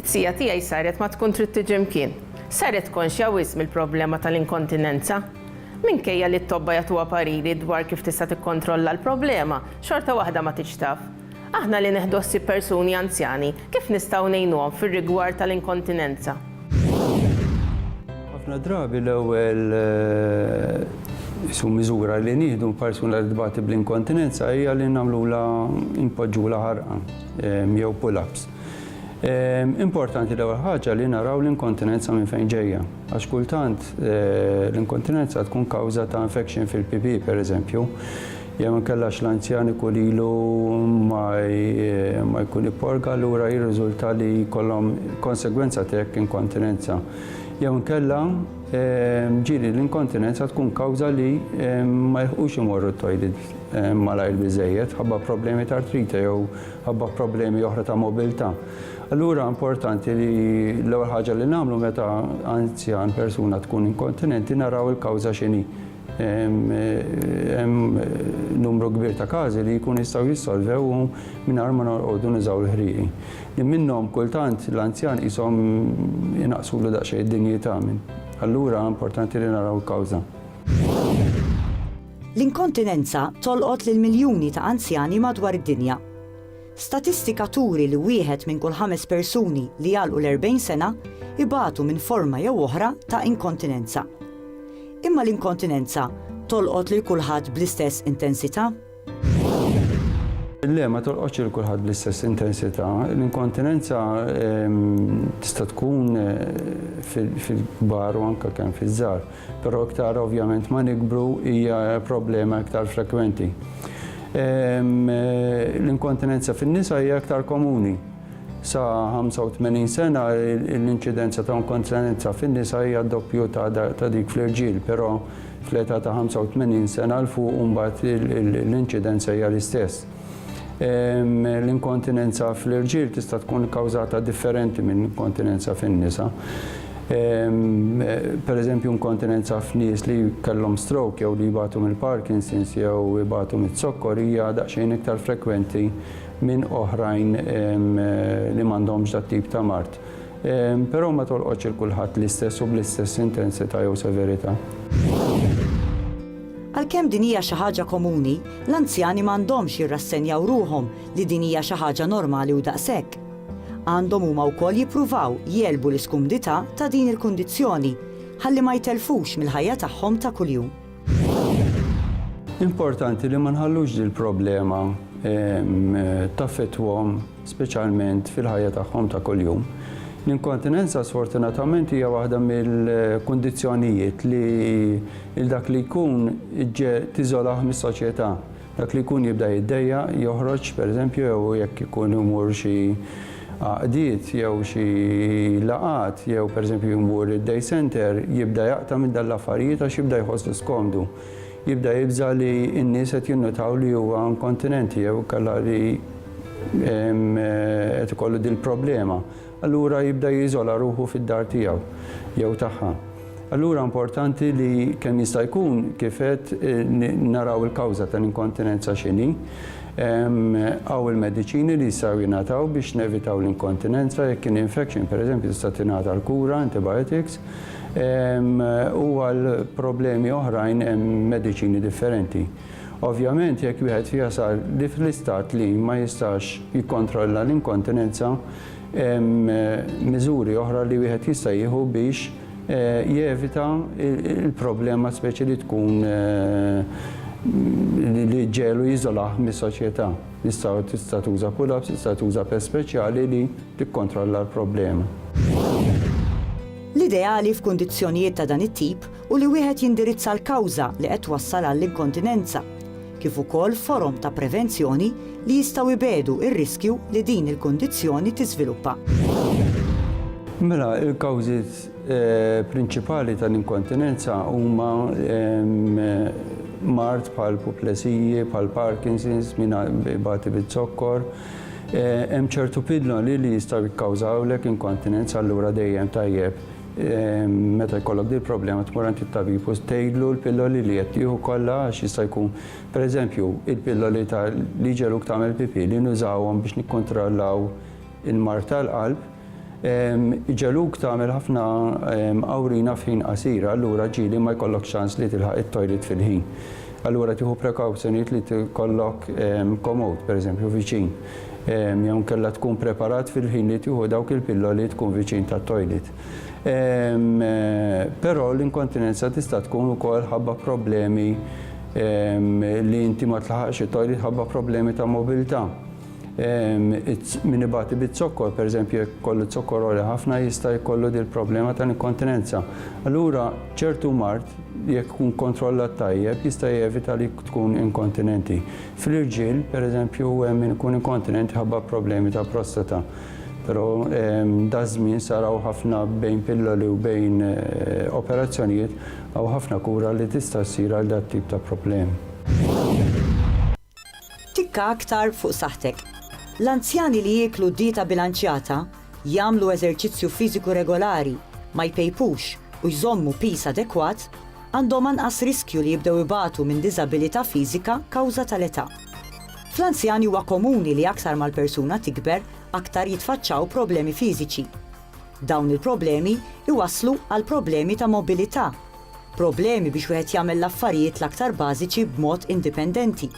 It-tija tiegħi saret ma tkun trid tiġi mkien. Saret konxja wisq mill-problema tal-inkontinenza. Minkejja li t-tobba jagħtuha pariri dwar kif tista' tikkontrolla l-problema, xorta waħda ma tgħidx taf. Aħna li neħdu ħsieb persuni anzjani, kif nistgħu ngħinuhom fir-rigward tal-inkontinenza? Ħafna drabi l-ewwel miżura li nieħdu minn persuna li tbati bl-inkontinenza hija li nagħmlulha, inpoġġulha ħarqan jew pull-ups. Importanti l-ewwel ħaġa li naraw l-inkontinenza minn fejn ġejja, għax kultant l-inkontinenza tkun kawża ta' infection fil-PP pereżempju, jew inkella l-anzjan ikun ilu ma jkun ipporga allura jirriżulta li jkollhom konsegwenza ta' hekk inkontinenza. Jew inkella ġieli l-inkontinenza tkun kawża li ma jilħqux imorru t-toilet malajr biżżejjed ħabba problemi ta' artrite jew ħabba problemi oħra ta' mobilità. Allura importanti li l-ewwel ħaġa li nagħmlu meta anzjan persuna tkun inkontinenti naraw il-kawża x'inhi. Hemm numru kbir ta' każi li jkun jistgħu jissolvew mingħajr ma norqogħdu nużaw il-ħrieqi. Li minnhom kultant l-anzjan qishom inaqsulu daqsxejn id-dinjità minn. Allura importanti li naraw il-kawża. L-inkontinenza tolqot lil miljuni ta' anzjani madwar id-dinja. Statistika turi li wieħed minn kull ħames persuni li jagħlqu l-40 sena jbatu minn forma jew oħra ta' inkontinenza. Imma l-inkontinenza tolqot lil kulħadd bl-istess intensità? Le, ma tolqotx lil kulħadd bl-istess intensità. L-inkontinenza tista' tkun fil-kbar u anke kemm fiż-żgħar. Però iktar ovvjament ma nikbru hija problema iktar frekwenti. L-inkontinenza fin-nisa hija iktar komuni. Sa 85 sena l-inċidenza ta' inkontinenza fin-nisa hija doppju ta' dik fl-irġiel, però fl-età ta' 85 sena 'l fuq imbagħad l-inċidenza hija l-istess. L-inkontinenza fl-irġiel tista' tkun kawżata differenti minn inkontinenza fin-nisa. Per eżempju, inkontinenza f'nies li kellhom stroke jew li jbatu mill-Parkinson's jew ibatu miz-zokkor hija daqsxejn iktar frekwenti minn oħrajn li m'għandhomx dat-tip ta' mard. Però ma tolqotx 'il kulħadd l-istess u bl-istess intensità jew severità. Għalkemm din hija xi ħaġa komuni, l-anzjani ma għandhomx jirrassenjaw ruħhom li din hija xi ħaġa normali u daqshekk. Għandhom huma wkoll jippruvaw jegħlbu l-iskumdità ta' din il-kundizzjoni ħalli ma jtellfux mill-ħajja tagħhom ta' kuljum. Importanti li ma nħallux dil-problema taffettwahom speċjalment fil-ħajja tagħhom ta' kuljum. L-inkontinenza sfortunatament hija waħda mill-kundizzjonijiet li il dak li jkun ġġe tiżolah mis-soċjetà. Dak li jkun jibda jiddejja, joħroġ pereżempju jew jekk ikun imur xi għaqdiet jew xi laqgħat jew pereżempju jmur id-day center jibda jaqta' minn dan l-affarijiet għax jibda jħosslu skomdu. Jibda jibża' li n-nies qed jinnutaw li huwa inkontinenti jew kellha li qed ikollu din il-problema, allura jibda jiżola ruħu fid-dar tiegħu jew tagħha. Allura importanti li kemm jista' jkun kif qed naraw il-kawża tal-inkontinenza x'inhi. Hawn il-mediċini li jistgħu jingħataw biex nevitaw l-inkontinenza jekk kien infection pereżempju tista' tingħata l-kura, antibiotics, u għal problemi oħrajn hemm mediċini differenti. Ovvjament jekk wieħed jasal li fl-istat li ma jistax jikkontrolla l-inkontinenza hemm miżuri oħra li wieħed jista' jieħu biex jevita l-problema speċi li tkun li ġġegħlu jiżolah mis-soċjetà. Jista' tista' tuża pull-ups, tista' tuża pest speċjali li tikkontrolla l-problema. L-ideali f'kundizzjonijiet ta' dan it-tip u li wieħed jindirizza l-kawża li qed twassal għall-inkontinenza, kif ukoll forom ta' prevenzjoni li jistgħu jbiegħdu r-riskju li din il-kundizzjoni tiżviluppa. Mela, il-kawżi eh, prinċipali tal-inkontinenza huma mart bħal puplesiji, bħal Parkinson's, minn bati bit-zokkor. Eh, hemm ċertu pidlon li jistgħu jikkawżawlek inkontinenza allura dejjem tajjeb Meta jkollok din il-problema tmur għand it-tabib u tgħidlu l-pilloli li qed tieħu kollha għax jista' jkun, pereżempju, il-pilloli ta' li jġegħluk tagħmel pipì li nużawhom biex nikkontrollaw il-mard tal-qalb, iġegħluk tagħmel ħafna awrina f'ħin qasir, allura ġieli ma jkollokx ċans li tilħaq it-toilet fil-ħin. Allura tieħu prekawzjonijiet li tkollok komod, pereżempju, viċin. jew inkella tkun preparat fil-ħin li tieħu dawk il-pilloli tkun viċin tat-toilet. Però l-inkontinenza tista' tkun ukoll ħabba problemi li inti ma tlaħaqx it-toilet ħabba problemi ta' mobilità. Min ibati biz-zokkor, pereżempju jekk ikollu z-zokkor għoli ħafna jista' jkollu dil-problema tal-inkontinenza. Allura ċertu mard jekk ikun kontrollat tajjeb jista' jevita li tkun inkontinenti. Fl-irġiel, pereżempju, hemm min ikun inkontinent minħabba problemi ta' prostata, però daż-żmien sar hawn ħafna bejn pilloli u bejn operazzjonijiet, hawn ħafna kura li tista' ssir għal dat-tip ta' problemi. Tikka aktar fuq saħħtek. L-anzjani li jieklu dieta bilanċjata jagħmlu eżerċizzju fiżiku regolari, ma jpejpux u jżommu piż adekwat għandhom anqas riskju li jibdew ibatu minn diżabilità fiżika kawża tal-età. Fl-anzjani huwa komuni li aktar ma l-persuna tikber aktar jitfaċċaw problemi fiżiċi. Dawn il-problemi jwasslu għal problemi ta' mobilità, Problemi biex wieħed jagħmel l-affarijiet l-aktar bażiċi b'mod indipendenti.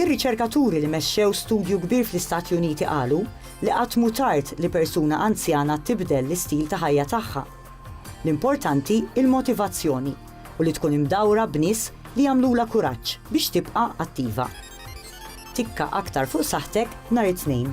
Ir-riċerkaturi li mexxew studju kbir fl-Istati Uniti qalu li qatt mhu tard li persuna anzjana tibdel l-istil ta' ħajja tagħha. L-importanti hi l-motivazzjoni u li tkun imdawra b'nies li jagħmlulha kuraġġ biex tibqa' attiva. Tikka aktar fuq saħħtek nhar it-Tnejn.